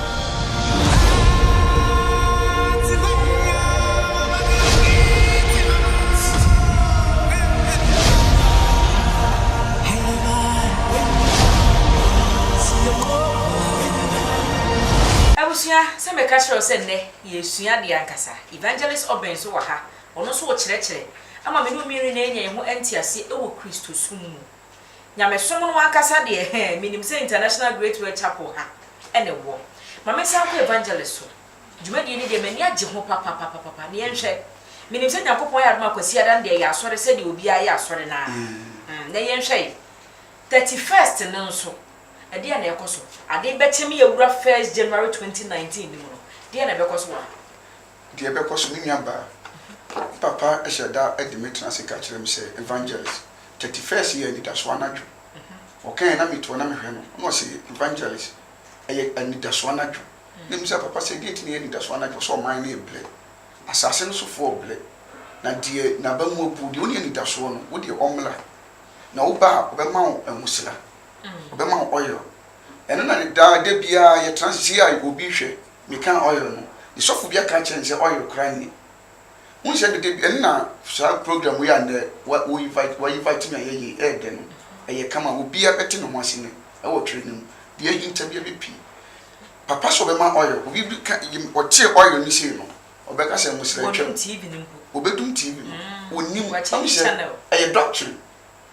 Abusua, sɛ mɛka kyerɛ wo sɛ nnɛ yɛresua adeɛ ankasa. Evangelist Obeng nso wɔ ha, ɔno nso rekyerɛkyerɛ ama me ne wo mmienu nyinaa anya yɛn ho nteaseɛ wɔ Kristosom mu. Nyamesom no ankasa deɛ hɛn, menim sɛ International Great World Chapel ha na ɛwɔ. Ma mensan nkɔ Evangelist so. Dwumadie no deɛ m'ani agye ho papapapapapa. Na yɛnhwɛ. Menim sɛ Nyankopɔn ayɛ adom a Kwasiada no deɛ ɛyɛ asɔre sɛdeɛ obiara yɛ asɔre no ara. Uhm, na yɛnhwɛ. Thirty first no nso, ɛdeɛn na ɛrekɔ so? Ade bɛkye me awura first January twenty nineteen no mu no, deɛn na ɛbɛkɔ so wɔ ha? Deɛ ɛbɛkɔ so, me nuabaa, me papa hyɛ da de me tena ase ka kyerɛ me sɛ, Evangelist, thirty first yɛ anidasoɔ anadwo. Ɔkaeɛ na meto hɔ na mehwɛ no, na ɔse, Evangelist, ɛyɛ anidasoɔ anadwo. Na mebisa, Papa, sɛ ɛdeɛn nti na ɛyɛ anidasoɔ anadwo? Ɔse, Ɔman no rebrɛ. Asase no sofoɔ rebrɛ. Na deɛ n'aba mu abuo, deɛ ɔnni anidasoɔ no, wo deɛ ɔmmra. Na wo ba a, ɔbɛma wo nwosira. Ɔbɛma wo oil. Ɛno na ne daa, da biara, yɛtena ase. Seesei a, obi rehwɛ, Mekaa oil no, ne sɔfo bia kaa kyerɛɛ me sɛ oil koraa nni. Wohu sɛ dede bi, ɛno na saa program wei a nnɛ wa wo invite wa invite me ayɛ yei ɛyɛ dɛ no, ɛyɛ kama a obia bɛte ne ho ase nnɛ ɛwɔ twerɛ no mu, deɛ ahinta bia bɛpie. Papa sɛ ɔbɛma oil, obi bi ka yem ɔtee oil no sei no, ɔbɛka sɛ Mmosra atwam. Wɔdum TV no mpo. Obɛdum TV no, ɔnnim, Wakyɛngye wahu sɛ channel. ɛyɛ doctrine.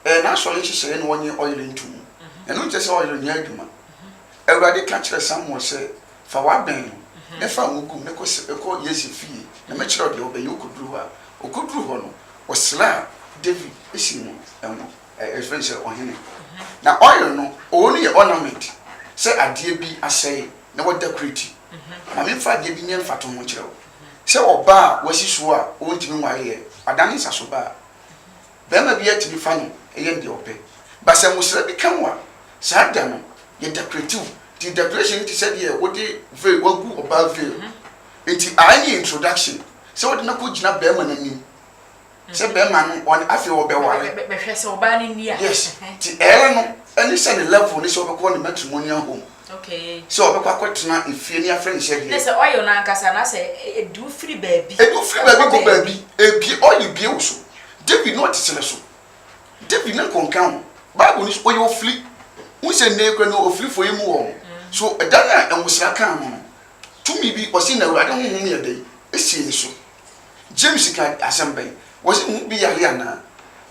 Ɛyɛ n'asɔre nhyehyɛe na ɔnye ɔyer nnto mu. Ɛno nkyerɛ sɛ ɔyer nnyɛ adwuma. Awurade ka kyerɛɛ Samuel sɛ, Fa w'abɛn no, ne fa ngo gu mu, ne kɔ Yese fie, na mɛkyerɛ wo deɛ wobɛyɛ. Ɔkɔduru hɔ a, ɔkɔduru hɔ no, ɔsraa David sii no ngo, yɛfrɛ no sɛ ɔhene. Na ɔyer no, ɔwɔ no yɛ ornament, sɛ adeɛ bi asɛe na wada kurati. Ma memfa adeɛ bi nyɛ mfatoho nkyerɛ wo. Sɛ ɔbaa a wasi soɔ a ɔntumi nwareɛ, ɔadane nsasoba a, Barima biara tumi fa no yɛ no deɛ ɔpɛ. But sɛ nwosra bi ka wo a, saa da no, yɛ decorate wo. Nti decoration no te sɛ deɛ wode veil, wagu ɔbaa veil. Nti ae no yɛ introduction, sɛ wode no akɔ gyina barima no anim, sɛ barima no ɔne, afei ɔbɛware. Bɛhwɛ sɛ ɔbaa no nni a. Yes, nti ae no ne sɛ ne level ne sɛ wobɛkɔ ne matrimonial home. Okay. Sɛ ɔbɛkɔ akɔtena efie ne afrɛ no sɛdeɛ. Ne sɛ oil no ankasa anaa sɛ ɛdu firi baabi. Ɛdu firi baabi kɔ baabi. Ebie oil bie wo so. David na ɔte serɛ so. David na nkɔnka ho. Bible no so ɔyɛ ofiri. Wohu sɛ nnɛ yi koraa no ofirifoɔ yɛ mu wɔ hɔ. So da no a nwosra kaa no no, tumi bi ɔse na Awurade honhom yɛ dɛn? Ɛsii ne so. James kaa asɛm bɛn? Ɔse ne ho bi yare anaa?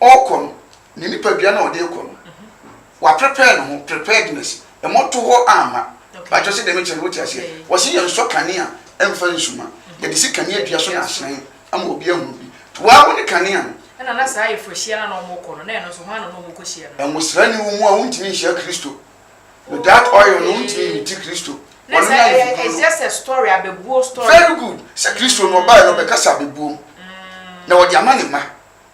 ɔrekɔ no, ne nipadua no a ɔde rekɔ no, waprepare ne ho, preparedness, mmɔto hɔ amma. Paatwa sɛ deɛ mekyerɛ no wote aseɛ. Wɔse yɛn nsɔ kanea mfa nsuma. Yɛde si kanea dua so na ahyerɛn ama obi ahunu bi. Waa wo ne kanea no. Ɛna na saa ayeforohyia no a na wɔn rekɔ no, na ɛno nso hwan na na wɔn rekɔ hyia no? Nwosra ni wo mu a wontumi nhyia Kristo. Without oil no wontumi nti Kristo. Ɔno ne ayefokunu no. It's just a story, abɛbuo story. Very good. Sɛ Kristo no ɔbaeɛ no ɔbɛkasa abɛbuom. Na ɔde ama ne mma.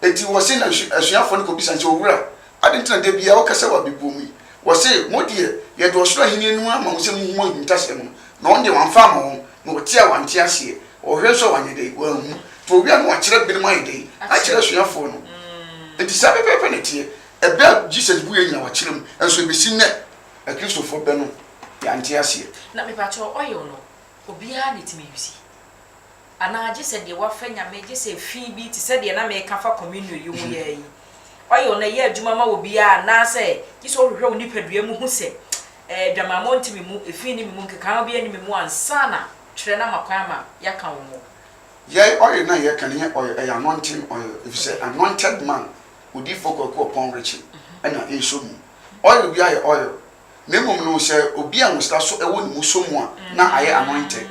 Enti wɔse na asuafoɔ no kɔbisa no sɛ, Owura, adɛn nti na da biara woka sɛ w'abɛbuom yi? Wɔse, Mo deɛ, yɛde ɔsoro ahennie no ama mo sɛ monhu mo ahintasɛm no, na ɔno deɛ wamfa amma wɔn, na ɔte a wante aseɛ, ɔhwɛ nso a wanyɛ dɛn? Wanhu. Nti owia no wakyerɛ binom ayɛ dɛn? Akyerɛ asuafoɔ no. Enti saa pɛpɛɛpɛ na ɛteɛ. Ɛbɛ a Jesus buiɛ nyinaa wakyerɛ mu, nso ɛbɛsi nnɛ Akristofoɔ bɛ no, yɛante aseɛ. Na mepakyɛw oil no obiara na etumi use? Anaa gye sɛ deɛ wafa Nyame gye sɛ fi bi te sɛ deɛ na meka fa Communio yi ho yɛɛ yi, oil no ɛyɛ adwuma ma obiara anaa sɛ gye sɛ wohwehwɛ wo nipadua mu hu sɛ adwamammɔ nte me mu, efi nni me mu, nkekaawa biara nni me mu ansa na twerɛ no ama kwan ama yɛaka wo ho. Yɛn oil no a yɛka no nyɛ oil, ɛyɛ anointing oil efisɛ anointed man, Odiyifoɔ Kwaku Ɔpɔn Richie, na ɛresɔ mu. Oil biara yɛ oil na mmom no sɛ obi a nwosra so wɔ ne mu sɔ mu a na ayɛ anointed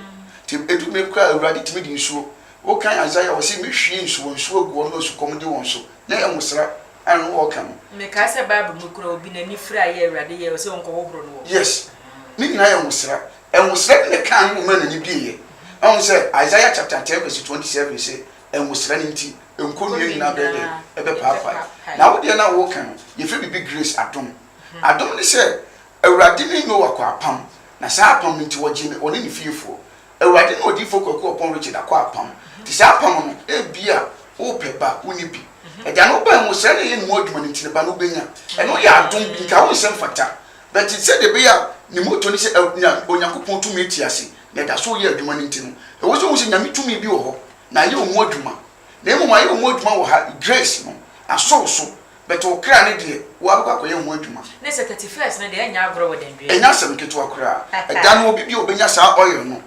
nti ɛdu bere koraa a Awurade tumi de nsuo wokan Isaiah a ɔse mɛhwie nsu wɔ nsuo agu wɔn a osukɔm de wɔn so na ɛyɛ nwosra a ɛno ɔɔka no. Mekae sɛ Bible mu koraa obi n'ani firi ayɛ a Awurade yɛɛ ɔse ɔnkɔhohoro no wɔ. Yes ne nyinaa yɛ nwosra. Nwosra bi na ɛkaa ne ho maa n'ani bieɛ. Wahu sɛ Isaiah chapter ten verse twenty seven se nwosra no nti nkonnua nyinaa bɛyɛ dɛn ɛbɛpaapae na wodeɛ no a wooka no yɛfrɛ biribi grace adom. Adom ne sɛ, Awurade ne Noa kɔɔ apam, na saa apam nti wɔgyee no, ɔne ne fiefoɔ. Awurade ne Odiyifoɔ Kwaku Ɔpɔn Richard akɔ apam. Te saa apam no, ebia worepɛ ba, wonni bi. Agya no wobae mu, sɛɛ na ɛyɛ ne mu adwuma no nti ne ba no wobɛnya. Ɛno yɛ adom bi, nka wo nsɛ mfata. But sɛdeɛ ɛbɛyɛ a ne moto ne sɛ Awur, Onyankopɔn tumi te ase na ɛda so reyɛ adwuma no nti no, ɛwɔ sɛ wohu sɛ Nyame tumi bi wɔ hɔ, na ayɛ ɔmu adwuma. Na mmom ayɛ ɔmu adwuma wɔ ha, Grace no, asɔw so, But wo kra no deɛ wo abɛkɔ akɔyɛ ho adwuma. Ne sɛ thirty first no deɛ ɛnyɛ agorɔ wɔ Danduaa. Ɛnyɛ asɛm ketewa koraa. Ɛda no obi biaa ɔbɛnya saa oil no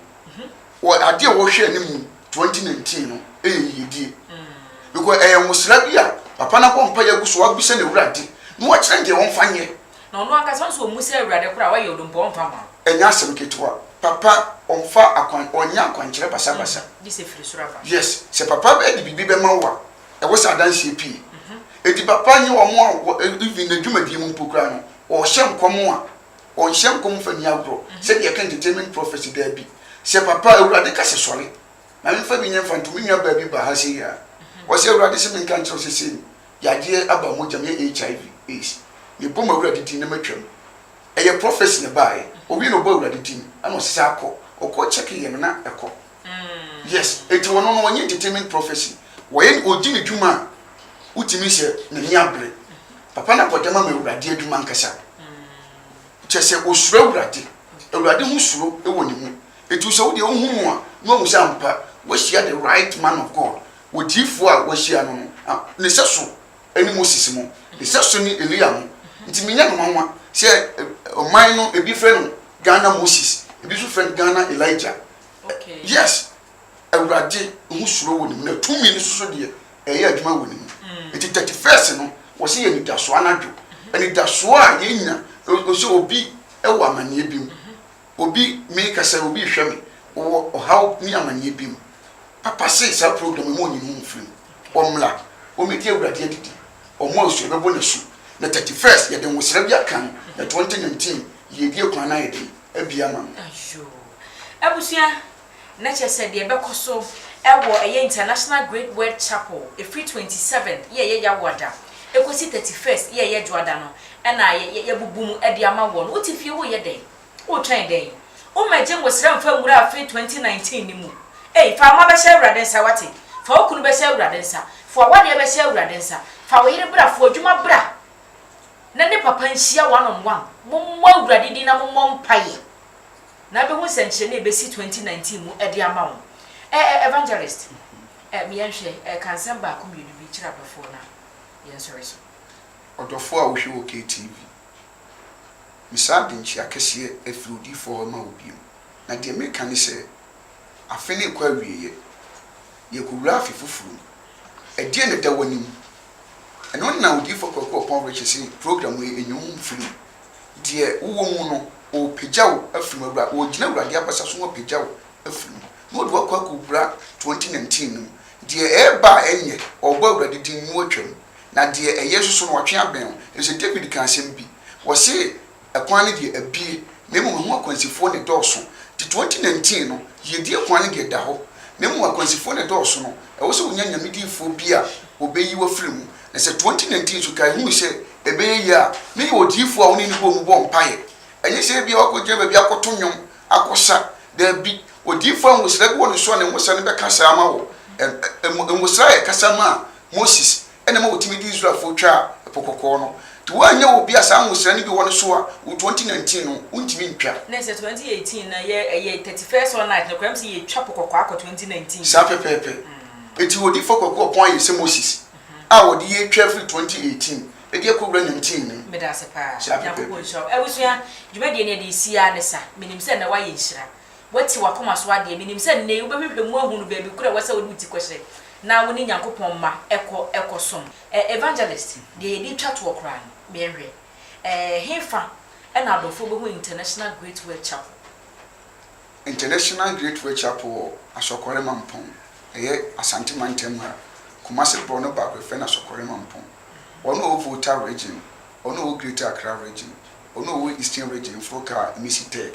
wɔ adeɛ a wɔhwɛ anim mu twenty nineteen no ɛyɛ yiyedie because ɛyɛ nwosra bi a papa no abɔ mpaeɛ agu so wabisa no Awurade na wakyerɛ no deɛ ɔmfa nyɛ. Na ɔno ankasa nso ɔmmu sɛ Awurade koraa wayɛ odompo a ɔmfa mma wo. Ɛnyɛ asɛm ketewa. Papa ɔmfa akwan ɔnyɛ akwankyerɛ basabasa. Gye sɛ ɛfiri soro aba. Yes, sɛ papa ɛde biribi bɛma wo a ɛwɔ sɛ adanseɛ pii ɛti papa nyɛ wɔn a wɔ even na dwumadie mu mpo koraa no wɔhyɛ nkɔm a wɔnhyɛ nkɔm fa ni agorɔ sɛdeɛ ɛka entertainment prophecy daabi sɛ papa awurade ka sɛ sɔre na memfa bi nyɛ mfa nto me nua baa bi ba ha sɛ yia wɔsɛ awurade sɛ menka nkyerɛ sɛ sei no yadeɛ aba mogya mu yɛ HIV AIDS mebɔ ma awurade din na matwam ɛyɛ prophecy na ɛbaeɛ owie na ɔbɔ awurade din ɛna ɔsesa akɔ ɔkɔ check yɛ no na ɛkɔ Yes, enti wɔno no wɔnyɛ entertainment prophecy. Wɔyɛ ɔdi ne dwuma a wotumi sɛ n'ani abere. Papa no akɔda mu ama Awurade adwuma ankasa. Kyerɛ sɛ ɔsuro Awurade. Awurade ho suro wɔ ne mu. Enti sɛ wodeɛ wohu no a na wahu sɛ ampa wahyia the right man of God. Odiyifoɔ a wahyia no no ne sɛso ne Moses mo. Ne sɛso ne Elia mo. Nti menyɛ no nwanwa sɛ ɔman no ebi frɛ no Ghana Moses, ebi nso frɛ no Ghana Elijah. yes awurade ho suro wɔ ne mu na tumi no soso deɛ ɛyɛ adwuma wɔ ne mu mm. nti thirty first no wɔsi yɛ anidasoɔ anadwo mhm. anidasoɔ a yɛnya ɔsɛ obi ɛwɔ amaneɛ bi mu mhm. obi mi kasa obi hwɛ mi wɔ ɔhaw ne amaneɛ bi mu papa se saa program mu onyini mu firi mu ɔmla ɔmɛdi awurade adidi ɔmo nso ɛbɛbɔ n'asu na thirty first yɛde nwosira bi akan na twenty nineteen. Yiedie kwan no ayɛ den abie ama no. Ayoo. Abusua, na kyerɛ sɛ deɛ ɛbɛkɔ so wɔ ɛyɛ International Great Word Chapel ɛfiri twenty seventh yɛ ɛyɛ Yawoada ɛkɔsi thirty first yɛ ɛyɛ Dwoada no na yɛ yɛbubu mu de ama woɔ no wote fie woreyɛ dɛn? Woretwɛn dɛn? Wo mmɛgye nwosra mfa nwura afe twenty nineteen no mu ei fa wo mma bɛhyɛ Awurade nsa woate? Fa wo kunu bɛhyɛ Awurade nsa, foa wadeɛ bɛhyɛ Awurade nsa, fa wo yere bra, foa adwuma bra. na ne papa nhyia one on one. Mommɔ Awurade din na mommɔ mpaeɛ na abɛhu nsɛnkyerɛnne a ɛbɛsi twenty nineteen mu de ama wo. Ɛ ɛ Evangelist, ɛ me yɛnhwɛ, ɛ ka nsɛm baako mmienu bi kyerɛ adɔfoɔ na yɛnsɔre so. Ɔdɔfoɔ a wohwɛ wɔ KTV, mesaa adenkyea kɛseɛ afiri odiyifoɔ hɔ ma wo bio. Na deɛ mereka ne sɛ, afe no rekɔ awieɛ. Yɛrekɔwura afe foforɔ mu. Ɛdeɛn na ɛda w'anim? Ɛno na Odiyifoɔ Kwaku Oppong rekyerɛ sɛ program yi nyɛ wo mfiri. Deɛ wowɔ mu no, ɔrepagya wo afiri mu, awura, ɔregyina Awurade abasa so na wapagya wo afiri mu, na ɔde wo akɔ akɔwura 2019 no mu. Deɛ ɛreba a ɛnyɛ, ɔrebɔ Awurade din na watwam, na deɛ ɛyɛ nso so no, watwe abɛn wo. Ɛfiri sɛ David kaa asɛm bi, ɔse, Ɛkwan no deɛ abue, na mmom ɛho akwansifoɔ na ɛdɔɔso. Nti 2019 no, yiedie kwan no deɛ ɛda hɔ, na mmom akwansifoɔ na ɛdɔɔso no. Ɛwɔ sɛ wonya Nyame diyifoɔ bi a wɔbɛyi wo afiri mu. Na sɛ 2019 nso kae hui sɛ ɛbɛyɛ yie a, na yɛ odiyifoɔ a wo ne no bɔ mu bɔ mpaeɛ. Ɛnyɛ sɛ ebia woakɔgyina baabi akɔto nnwom, akɔsa. Daabi. Odiyifoɔ a nwosra bi wɔ ne so a ne nwosra no bɛka saa ama wo. Ɛ, ɛ, nwosra a ɛkasa maa Moses na ɛma wɔtumi de Israelfoɔ twaa Ɛpo Kɔkɔɔ no. Nti woannya obi a saa nwosira no bi wɔ ne so a wo 2019 no wontumi ntwa. Na sɛ 2018 no yɛ ɛyɛ 31st all night nokorɛ m sɛ yɛtwa po kɔkɔɔ akɔ 2019 Saa pɛpɛɛpɛ. Nti odifoɔ Kwaku Ɔpɔn ayɛ sɛ Moses a wɔde yɛ twa firi 2018 de akɔwura 19 no mu. Medase paa. Saa pɛpɛɛpɛ. Nyankopɔn nhyira wo. Abusua, dwumadie no yɛde resi ara ne sa. Menim sɛ nnɛ woayɛ nhyira. Woati w'akoma so adeɛ. Menim sɛ nnɛyi wobɛhwehwɛ mu ahunu baabi korɔ a ɛwɔ sɛ wode wo ti kɔhyerɛ na wo ne Nyankopɔn mma ɛkɔ ɛkɔ som. Eh, Evangelist, deɛ yɛde retwa toɔ koraa no, meɛnhwɛ eh, hefa na adɔfoɔ bɛhu International Great World Chapel? International Great World Chapel wɔ Asɔkɔre Mampong, ɛyɛ Asante Mantam mu a Kumasi borɔno baako yɛfrɛ no Asɔkɔre Mampong. Wɔn a wɔwɔ Volta Region, wɔn a wɔwɔ Greater Accra Region, wɔn a wɔwɔ Eastern Region foɔ kaa Emisi Tech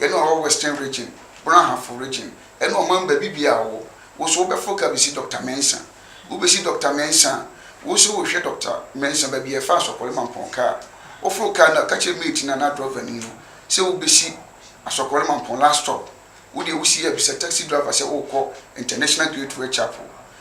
Yɛne ɔwɔ Western Region, Brahafo Region, ɛne ɔman baabi biaa a ɔwɔ. Wo so wobɛforo ka besi Doctor Mensah? Wobesi Doctor Mensah a, wo so wohwɛ Doctor Mensah baabi a ɛfa Asɔkɔre Mampɔn ka a, woforo car no a, ka kyerɛ mate no anaa drɔvani no sɛ wobesi Asɔkɔre Mampɔn last stop. Wodeɛ wosi a bisa taxi driver sɛ wokɔ International Gateway Chapel.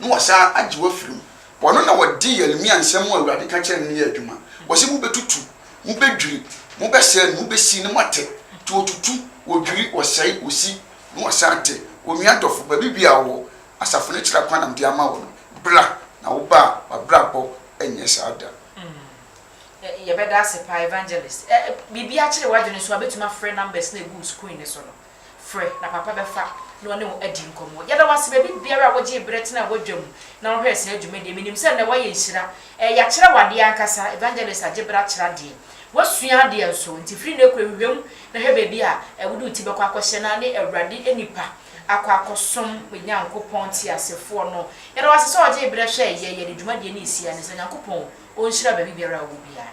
na wɔasan agye wo afiri mu. Wɔno na wɔde Yeremia nsɛm a Awurade ka kyerɛɛ no no yɛɛ adwuma. Wɔse, Mobɛtutu, mobɛdwiri, mobɛsɛe no, mobɛsi na moatɛ, nti wɔtutu, wɔdwiri, wɔsɛe, wɔsi, na wɔasan atɛ. Onua dɔfo, baabi biara a wowɔ, asafo no kyerɛ kwan na mede ama wo no, bra na wo ba a w'abrabɔ nyɛ saa da. Mm, yɛbɛda ase paa, Evangelist. Eh, biribi akyere w'adwene nso a, bɛtumi afrɛ numbers no a ɛgu wo screen no so no. Frɛ, na Papa bɛfa na ɔne wo adi nkɔmmɔ. Yɛda wo ase, baabi biara a wogyee berɛ tenaa w'adwa mu na wohwɛɛ saa dwumadie. Menim sɛ nnɛ woayɛ nhyira. Ɛɛ, yɛakyerɛ wo adeɛ ankasa. Evangelist agye berɛ akyerɛ adeɛ. Woasua adeɛ nso. Nti firi nnɛ kɔ hwehwɛ mu na hwɛ baabi a wode wo ti bɛkɔ akɔhyɛ na ne Awurade nnipa akɔ akɔsom Onyankopɔn teasefoɔ no. Yɛda wo ase sɛ wogyee berɛ hwɛɛ yɛn. Yɛde dwumadie no resie anɛ saa. Nyankopɔn ɔnhyira baabi biara a wowɔ biara.